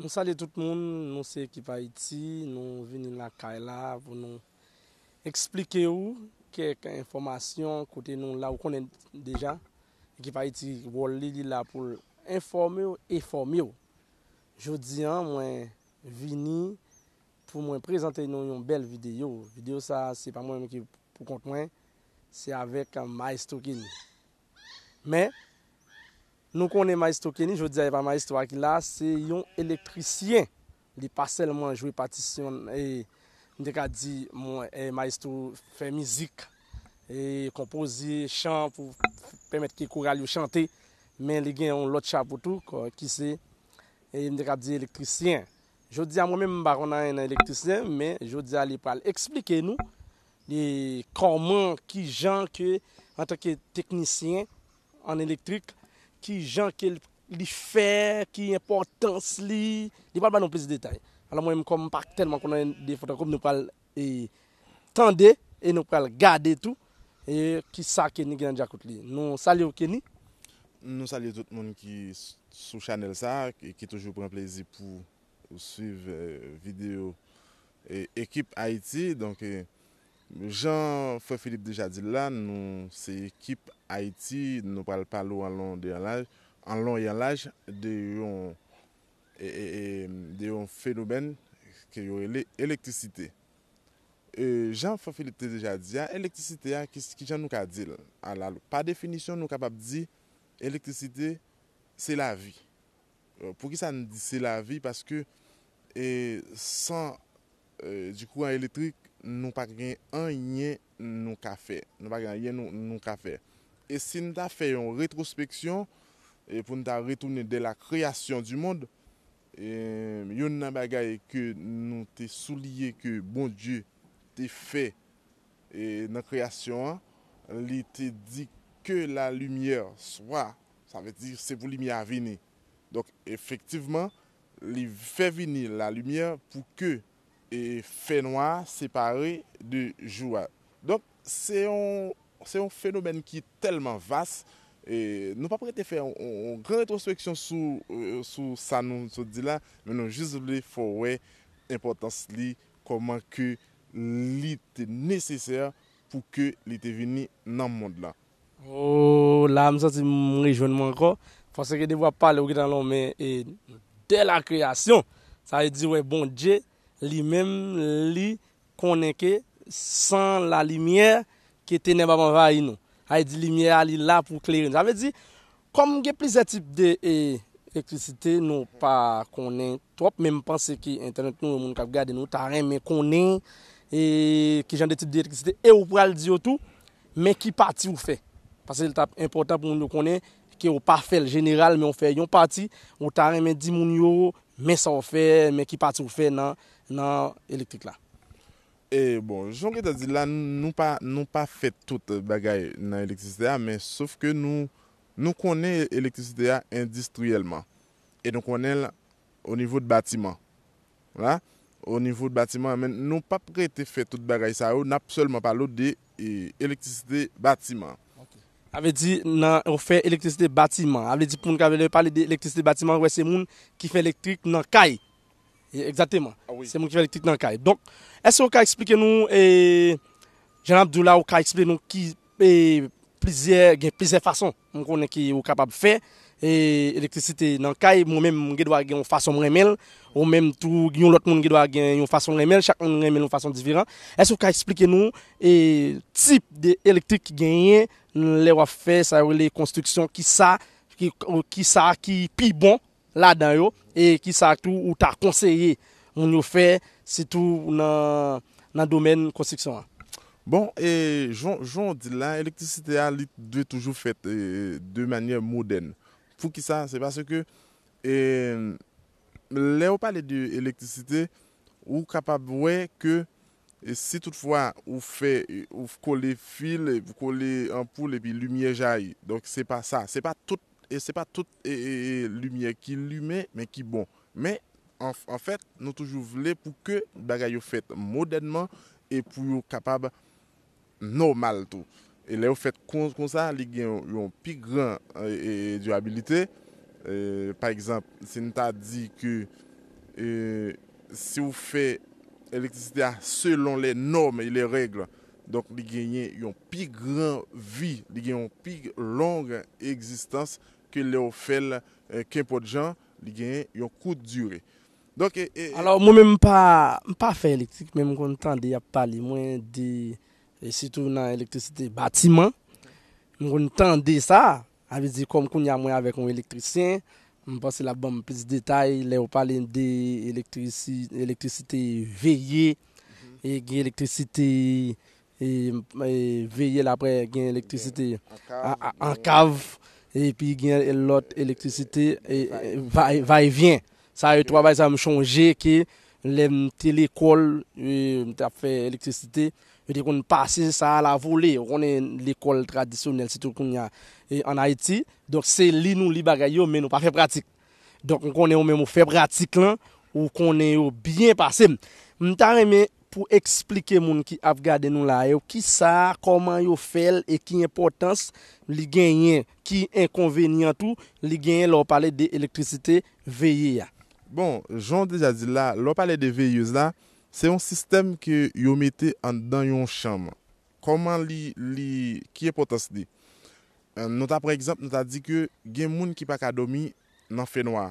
Nou salye tout moun, nou se ekip Haïti, nou vini lakay la pou nou esplike ou kèk enfòmasyon kote nou la ou konnen deja ekip Haïti wòl li li la poul enfòme ou e fòme ou. Jodi an mwen vini pou mwen prezante nou yon bèl videyo, videyo sa se pa mwen menm ki pou kont mwen se avèk Maestro Kenny. Men, nou konnen Maestro Kenny, jodi a e pa Maestro a ki la, se yon elektrisyen. Li pa sèlman jwe patisyon, m te ka di Maestro fè mizik, konpoze chan pou pèmèt ke koral yo chante, men li gen yon lòt chapo tou ki se, m te ka di elektrisyen. Jodi a mwen menm m pa konn anyen nan elektrisyen, men jodi a li pral eksplike nou, E kòman, ki jan ke antanke teknisyen an elektrik, ki jan ke li fè, ki enpòtans li, li pral ban nou plis detay. Alò mwen menm kòm m pa tèlman konnen de Fotokopi, nou pral tande e nou pral gade tou e ki sa Kenny gen nan djakout li. Nou salye w Kenny. Nou salye tout moun ki sou chanèl sa, ki toujou pran plezi pou swiv videyo Ekip Ayiti, donk jan frè Filip deja di l la, nou se ekip Ayiti, nou pral pale w an lon e an laj de yon fenomèn ke yo rele elektrisite. Jan frè Filip te deja di a, elektrisite a ki jan nou ka di l? Pa definisyon nou kapab di elektrisite se lavi. Poukisa n di se lavi? Paske san di kouran elektrik, nou pa gen anyen nou ka fè. Nou pa gen anyen nou ka fè. E si n ta fè yon retrospeksyon, pou n ta retounen dè la kreyasyon di mond, youn nan bagay ke nou te souliye ke Bondye te fè nan kreyasyon an, li te di, Ke la limyè swa. Sa vle di, se pou limyè a vini. Donk, efektivman, li fè vini lalimyè pou ke fènwa a separe de jou a. Donk, se yon, se yon fenomèn ki tèlman vas, nou pap rete fè yon gran retwospeksyon sou, sou sa nou sot di la, men nou jis vle fè w wè enpòtans li, kòman ke li te nesesè pou ke li te vini nan mond lan. Ooh la m santi m rejwenn mwen ankò Fòse ke depi wap pale ou gentan lonmen e de la kreyasyon sa vle di wè Bondye li menm li konnen ke san la limyè ke tenèb ap anvayi nou sa vle di limyè a li la pou klere nou sa vle di kòm gen plizyè tip de elektrisite nou pa konnen twòp men m panse ke entènèt nou e moun kap gade nou ta renmen konnen e kijan de tip de elektrisite e ou pral di yo tou Men ki pati ou fè. Pase li tap enpotan pou moun yo konnen ke ou pa fèl jeneral men ou fè yon pati, ou ta renmen di moun yo men sa ou fè, men ki pati ou fè nan nan elektrik la. E bon, jan w gentan di l la, nou pa nou pa fè tout bagay nan elektrisite a men sof ke nou nou konnen elektrisite a endistriyèlman e nou konnen l O nivo de batiman. Wala. O nivo de batiman, men nou pa p rete fè tout bagay sa yo, n ap sèlman pale w de elektrisite batiman. Sa vle di nan ou fè elektrisite batiman. A vle di pou moun ka vle lè yo pale de elektrisite batiman, wè se moun ki fè elektrik nan kay. Egzateman. Se moun ki fè elektrik nan kay. Donk, èske ou ka eksplike nou, jan n ap di w la, ou ka eksplike nou ki plizyè, gen plizyè fason. M konnen ke ou kapab fè elektrisite nan kay, mwen menm m gen dwa gen yon fason m renmen l, ou menm tou yon lòt moun gen dwa gen yon fason l renmen l, chak moun renmen l yon fason diferan. Èske ou ka esplike nou tip de elektrik ki genyen lè w ap fè sa yo rele konstriksyon, kisa ki pi bon ladan yo e kisa tou ou ta konseye moun yo fè sitou nan domèn konstriksyon an? Bon, jan w di l la, elektrisite a li dwe toujou fèt de manyè modèn. Poukisa? Se paske lè ou pale de elektrisite, ou kapab wè ke si tout fwa ou fè, ou kole fil, ou kole anpoul epi limyè jayi. Donk se pa sa. Se pa tout E limyè ki limen, men ki bon. Men, an fèt, nou toujou vle pou ke bagay yo fèt modènman e pou yo kapab nòmal tou. E lè yo fèt kon sa, li gen yon pi gran dirabilite. Pa egzanp, si n ta di ke si ou fè elektrisite a selon lè nòm e lè règle, Donk li genyen yon pi gran vi, li gen yon pi long egzistans ke lè ou fè l kenpòt jan, li gen yon kout dire. Donk e. Alò mwen menm m pa, m pa fè elektrik men m konn tande y ap pale mwen de sitou nan elektrisite batiman, m konn tande sa. A vle di kòm kounya mwen avèk yon elektrisyen, m panse l ap ban m plis detay lè yo pale de elektrisite veye, gen elektrisite veye la apre gen elektrisite an kav epi gen lòt elektrisite va e vyen. Sa yo twa bagay sa yo m chonje ke lè m te lekòl, m te ap fè elektrisite, yo te konn pase sa a la vole. Ou konnen lekòl tradisyonèl sitou kounye a an Ayiti. Donk se li nou li bagay yo men nou pa fè pratik. Donk m konnen ou menm ou fè pratik lan, ou konnen yo byen pase m. M ta renmen pou eksplike moun ki ap gade nou la a yo ki sa, kòman yo fè l e ki enpòtans li genyen, ki enkonvenyan tou li genyen lè ou pale de elektrisite veye a. Bon, jan w deja di l la, lè w pale de veyez la, se yon sistèm ke yo mete anndan yon chanm. Kòman li, li, ki enpòtans li? Nou ta pran egzanp, nou ta di ke gen moun ki pa ka dòmi nan fènwa.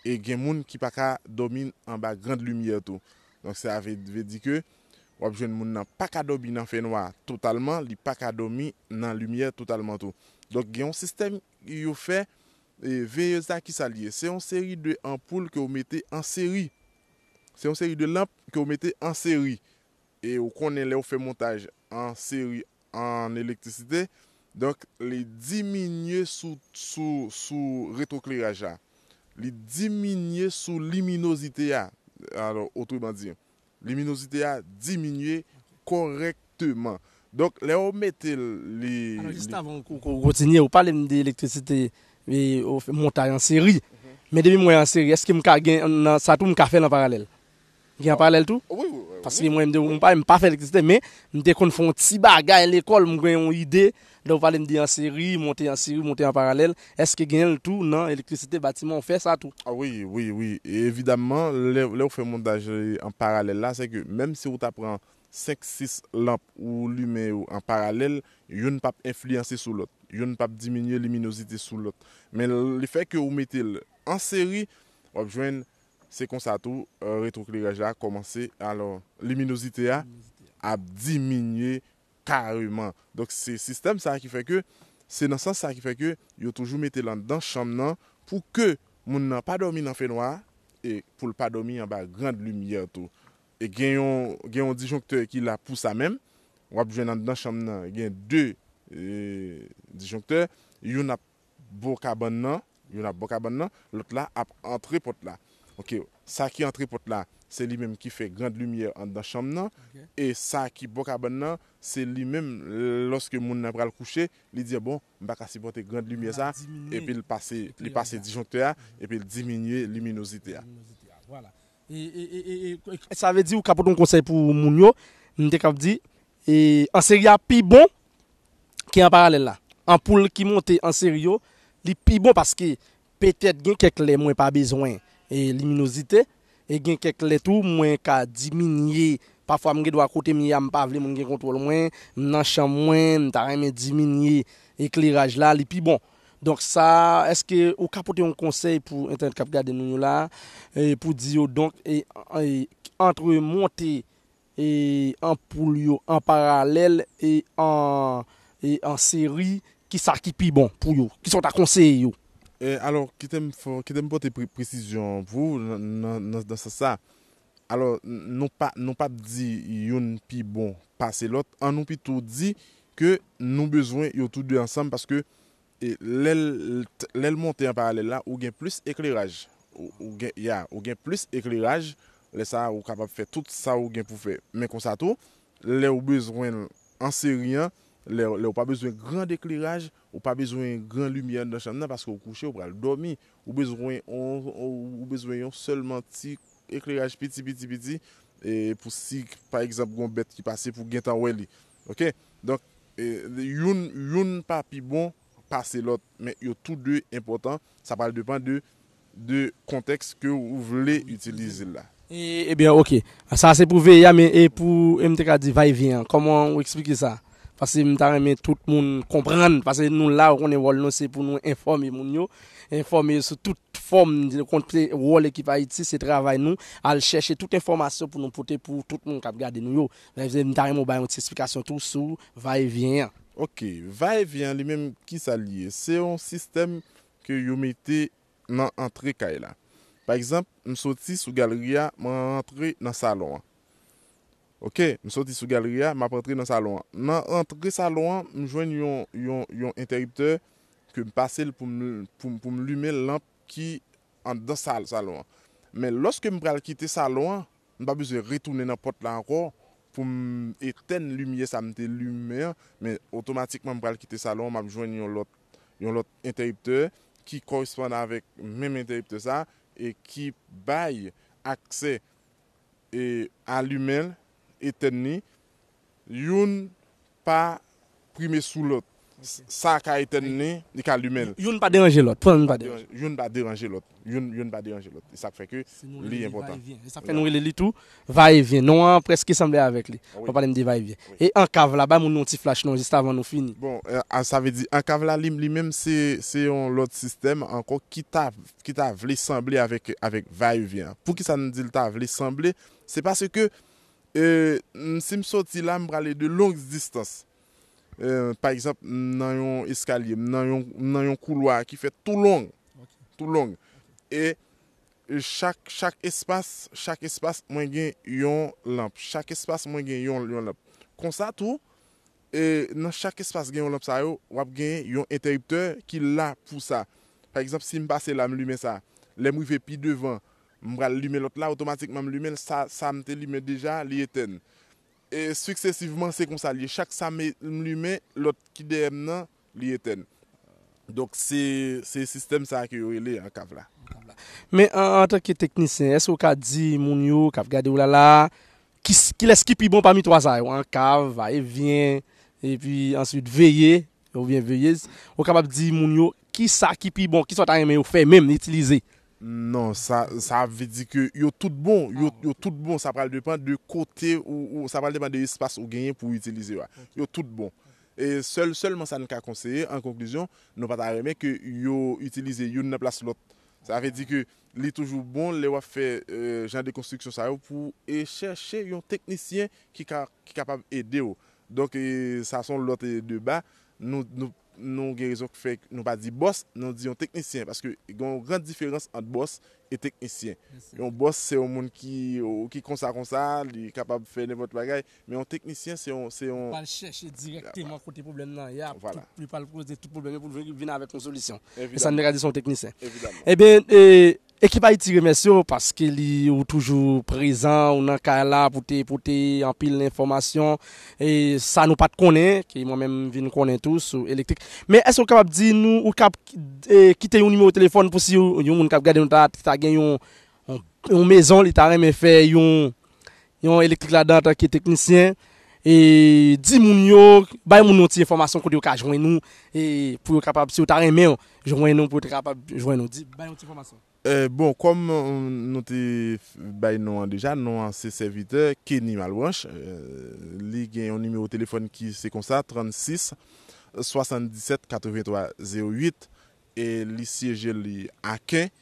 E gen moun ki pa ka dòmi anba grand limyè tou. Donk sa vle, vle di ke w ap jwenn moun nan pa ka dòmi nan fènwa totalman, li pa ka dòmi nan limyè totalman tou. Donk gen yon sistèm yo fè veyez la ki sal ye se yon seri de anpoul ke ou mete an seri se yon seri de lanp ke ou mete an seri e ou konnen lè ou fè montaj an seri an elektrisite donk li diminye sou sou sou retrokleraj la li diminye sou liminozite a otreman di Liminozite a diminye kòrèkteman. Donk lè ou mete l li. Alò jis avan ou kontinye, ou pale m de elektrisite e ou fè montay an seri. Men depi mwen an seri, èske m ka gen nan sa tou m ka fè l an paralèl? M gen an paralèl tou? Wi, wi, wi. Paske mwen m te, m pa fè elektrisite men m te konn fè yon ti bagay lekòl, m gen yon ide. Lè ou pale m de anseri, monte anseri, monte an paralèl, èske genyen l tou nan elektrisite batiman ou fè sa tou? Wi, wi, wi. Evidamman, lè ou fè montaj an paralèl la, se ke menm si ou ta pran 5, 6 lanp ou limen yo an paralèl, youn p ap enfliyanse sou lòt. Youn p ap diminye liminozite sou lòt. Men le fè ke ou mete l an seri, w ap jwenn se konsa tou retwokleraj la kòmanse, alò liminozite a ap diminye kareman. Donk se sistèm sa ki fè ke se nan sans sa ki fè ke yo toujou mete l anndan chanm nan pou ke moun nan pa dòmi nan fenwa e pou l pa dòmi anba grand limyè tou. E gen yon gen yon disjoncteur ki la pou sa menm. W ap jwenn anndan chanm nan gen 2 disjoncteur, youn ap. bo kabann nan, youn ap bo kabann nan, lòt la ap antre pòt la. Ok, sa ki antre pòt la, se li menm ki fè grand limyè anndan chanm nan, e sa ki bo kabann nan, se li menm lòske moun nan pral kouche, li di bon, m pa ka sipòte grand limyè sa, epi l pase, li pase disjonktè a, epi l diminye liminozite a. Sa vle di ou ka pote yon konsèy pou moun yo, m te kab di, anseri a pi bon ki an paralèl la. Anpoul ki monte an seri yo, li pi bon paske petèt gen kèk lè mwen pa bezwen liminozite e gen kèk lè tou mwen ka diminye. Pafwa m gen dwa kote m ye a m pa vle moun gen kontwòl mwen, m nan chanm mwen, m ta renmen diminye ekleraj la, li pi bon. Donk sa, èske ou ka pote yon konsèy pou entènèt k ap gade nou yo la pou di yo donk antre monte E anpoul yo an paralèl e an seri kisa ki pi bon pou yo? Kisa ou ta konseye yo? Alò kite m pote presizyon pou ou nan sans sa. Alò nou pap di youn pi bon pase lòt, annou pito di ke nou bezwen yo tou de ansanm paske E lè l monte an paralèl la, ou gen plis ekleraj. Ou gen, ya, ou gen plis ekleraj. Lè sa a, ou kapab fè tout sa ou gen pou fè. Men konsa tou, lè ou bezwen l an seri an, lè ou pa bezwen grand ekleraj, ou pa bezwen gran limyè anndan chanm nan paske ou kouche, ou pral dòmi, ou bezwen yon, ou bezwen yon sèlman ti ekleraj piti piti piti pou si pa egzanp gen yon bèt ki pase pou gen tan wè li. Ok donk youn youn pa pi bon pase lòt men yo tou de enpòtan sa pral depan de de kontèks ke ou vle itilize l la. Ebyen ok sa se pou veye a men e pou e m te ka di vay vyen an kòman ou eksplike sa paske m ta renmen tout moun konprann paske nou la ou konnen wòl nou se pou nou enfòme moun yo enfòme yo sou tout fòm konte wòl ekip ayiti se travay nou al chèche tout enfòmasyon pou nou pote pou tout moun k ap gade nou yo Mezanmi mta renmen ou bay yon ti esplikasyon tou sou va e vyen an. Ok, va e vyen an li menm kisa li ye? Se yon sistèm ke yo mete nan antre kay la. Pa egzanp, m soti sou galri a m rantre nan salon an. Ok, m soti sou galri a map rantre nan salon an. Nan rantre salon an m jwenn yon yon yon entèriptè ke m pase l pou m pou m pou m limen lanp ki anndan sal salon an. Men lòske m pral kite salon an, m pa bezwen retounen nan pòt la ankò pou m etèn limyè sa m te limen an, men otomatikman m pral kite salon an, m ap jwenn yon lòt yon lòt entèriptè ki kòresponn avèk menm entèriptè sa e ki bay aksè e alimen l, etèn li. Youn pa prime sou lòt. Sa a ka etèn li, li ka limen l. Youn pa deranje lòt. Pran youn pa deranje lòt. Youn pa deranje lòt. Youn, youn pa deranje lòt. E sa k fè ke li enpòtan. E sa k fè nou rele li tou va e vyen. Non an prèske sanble avèk li. Lè w pale m di va e vyen. E ankav la, bay moun yon ti flach non jistavan nou fini. Bon, sa vle di ankav la li, li menm se, se yon lòt sistèm ankò ki ta, ki ta vle sanble avèk, avèk va e vyen an. Poukisa n di l ta vle sanble? Se paske E si m soti la, m prale de longs distans. Pa egzanp, m nan yon eskalye, m nan yon koulwa ki fèt tou long. Tou long. E chak espas, chak espas mwen gen yon lanp. Chak espas mwen gen yon lanp. Konsa tou, e nan chak espas gen yon lanp sa yo, w ap gen yon entèriptè ki la pou sa. Pa egzanp, si m pase la, m limen sa. Lè m rive pi devan, M pral limen lòt la, otomatikman m limen l, sa sa m te limen deja, li etèn. E siksesivman se konsa l ye, chak sa m m limen, lòt ki dèyè m nan, li etèn. Donk se se sistèm sa a ke yo rele an kav la. Men an antanke teknisyen, èske ou ka di moun yo k ap gade ou la la a, ki kilès ki pi bon pami twa sa yo, an kav, va e vyen, epi answit veye, oubyen veyez, ou kapab di moun yo ki sa ki pi bon, ki sa w ta renmen yo fè menm, itilize, Non sa sa vle di ke yo tout bon, yo tout bon sa pral depan de kote ou sa pral depan de espas ou genyen pou itilize yo a. Yo tout bon. E sèl sèlman sa n ka konseye an konklizyon, nou pa ta renmen ke yo itilize youn nan plas lòt. Sa vle di ke li toujou bon lè w ap fè jan de konstriksyon sa yo pou e chèche yon teknisyen ki ka ki kapab ede w. Donk sa s on lòt deba. Nou nou. Nou gen rezon k fè nou pa di bòs, nou di yon teknisyen. Paske gen yon gran diferans ant bòs e teknisyen. Yon bòs se yon moun ki konsa konsa, li kapab fè nenpòt bagay. Men yon teknisyen se yon. Li pral chèche dirèkteman kote pwoblèm nan ye a. Vwala. Li pral poze tout pwoblèm yo pou l vin avèk yon solisyon. Evidaman. E sa nou te ka di se yon teknisyen. Evidaman. Ebyen, Ekip Ayiti remèsye w paske li ou toujou prezan, ou nan kay la pou te pote anpil enfòmasyon e sa nou pat konnen, ke mwen menm m vin konnen tou sou elektrik. Men èske ou kapab di nou, ou kab kite yon nimewo telefòn pou si yon moun kap gade nou ta gen yon mezon li ta renmen fè yon yon elektrik ladan antanke teknisyen e di moun yo bay moun yon ti enfòmasyon kote yo ka jwenn ou e pou yo kapab si yo ta renmen jwenn ou pou yo te kapab jwenn ou di bay yon ti enfòmasyon. Bon kòm nou te bay non an deja non an se sèvitè Kenny Malbranche li gen yon nimewo telefòn ki se konsa 36 77 83 08 e li syeje li Aken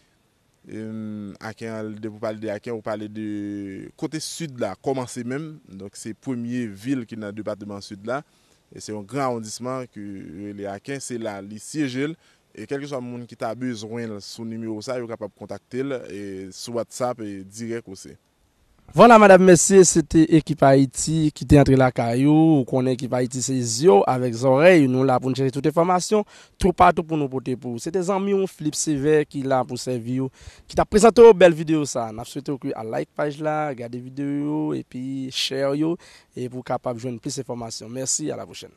Aken an depi ou pale de Aken ou pale de kote sid la kòmanse menm donk se premye vil ki nan depateman sid la e se yon gran awondisman ke yo rele Aken se la li syeje l e kèlkeswa moun ki ta bezwen l sou nimewo sa yo kapab kontakte l sou whatsapp dirèk ou se. Vwala madam mesye se te ekip ayiti ki te antre lakay ou ou konnen ekip ayiti se zye w avèk zòrèy nou la pou n chèche tout enfòmasyon toupatou pou nou pote pou ou se te zanmi w Flip sevè ki la pou sèvi w ki tap prezante w bèl videyo sa nap swete w ke al like paj la gade videyo yo epi share yo e pou w kapab jwenn plis enfòmasyon mèsi a la pwochèn.